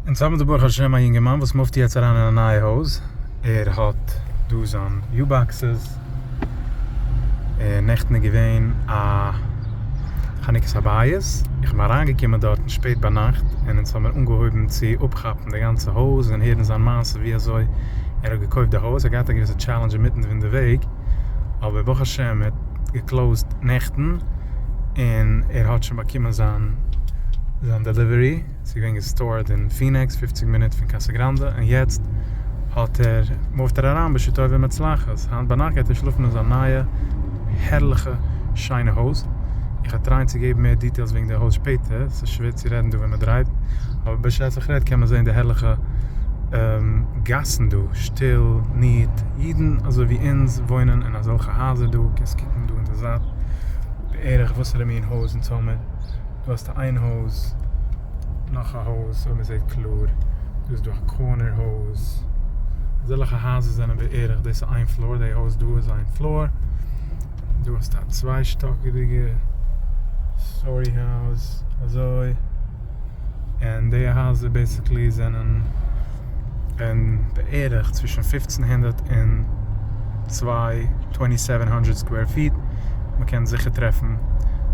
אונז האבן דא ברוך השם א יונגערמאן וואס מופט יעצט אריין אין א נייע הויז, ער האט דא זיין יו באקסעס, און נעכטן איז געווען א חנוכת הבית, איך בין אריינגעקומען דארטן שפעט ביינאכט, און אונז האמיר אנגעהויבן צו אפכאפן די גאנצע הויז און הערן זיין מעשה ווי אזוי ער האט געקויפט די הויז, ער האט געהאט א געוויסע טשעלענדזש אינמיטן פון די וועג, אבער ברוך השם ער האט געקלאוזט נעכטן און ער האט שוין באקומען זיין זיין דעליווערי, ס'איז געווען געסטארד אין פינעקס פופציג מינוט פון קאסא גראנדע, און יעצט האט ער מופט ער אריין בעשו טוב ומצלחת, היינט ביינאכט גייט ער שלאפן אין זיין נייע הערליכע שיינע הויז, איך וועל טרייען צו געבן מער דיטעילס וועגן די הויז שפעטער, ס'איז שווער צו רעדן דא ווען מען דרייווט, אבער בשעת איך רעד קען מען זען די הערליכע גאסן דא, שטיל, ניעט. אידן אזוי ווי אונז וואוינען אין אזעלכע הייזער דא, קענסט קוקן דא אין די זייט בערך וואסערע מין הויז אונז האבן, דא האסטו איין הויז, נאך א הויז אויב מ'זעט קלאר, דא איז דא א קארנער הויז, אזעלכע הייזער זענען בערך, דאס איז איין פלאר, די הויז דא איז איין פלאר, דא האסטו א צוויי שטאקיגע סטארי הויז, אזוי. און די הייזער בעסיקלי זענען און בערך צווישן פֿופֿצן הונדערט און צוויי טווענטי סעווען הונדרעט סקווער פיט, מ'קען זיכער טרעפן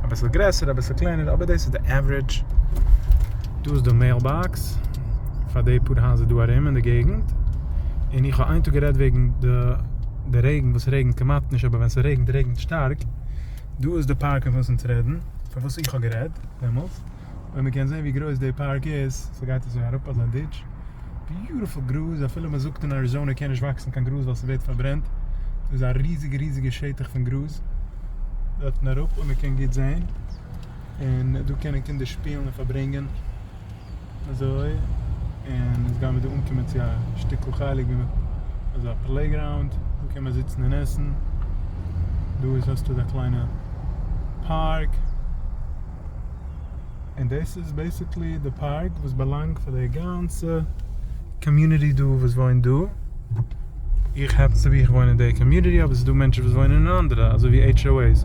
אביסל גרעסערע אביסל קלענערע אבער דאס איז די עוורידזש, דא איז די מעיל באקס פאר די פאר הייזער דא ארום אין די געגנט, און איך האב איין טאג גערעדט וועגן די די רעגן וואס רעגנט כמעט נישט אבער ווען ס'רעגנט רעגנט שטארק, דא איז די פארק פון וואס אונז רעדן פון וואס איך האב גערעדט דעמאלטס. און מ'קען זעהן ווי גרויס די פארק איז, ס'גייט אזוי אראפ אזא דיטש, ביוטיפול גראז, אפילו מ'זאגט אין אריזאנע קען נישט וואקסן קיין גראז ווייל ס'ווערט פארברענט, דא איז א ריזיגע ריזיגע שטח פון גראז, דארטן אראפ און מ'קען גוט זעהן, און דא קענען קינדער שפילן און פארברענגען, אזוי, און יעצט גיימיר דא אנקומען צו א שטיקל חלק ווי מ'האט אזא פלעיגראונד, דא קען מען זיצן און עסן, דא איז האסטו אזא קליינע פארק. און דאס איז בעיסיקלי די פארק וואס באלאנגט פאר די גאנצע קאמיוניטי דא וואס וואוינט דא, איך האפענס טו בי איך וואוין אין די קאמיוניטי אבער עס איז דא מענטשן וואס וואוינען אין אנדערע אזוי ווי עיטש או עי'ס.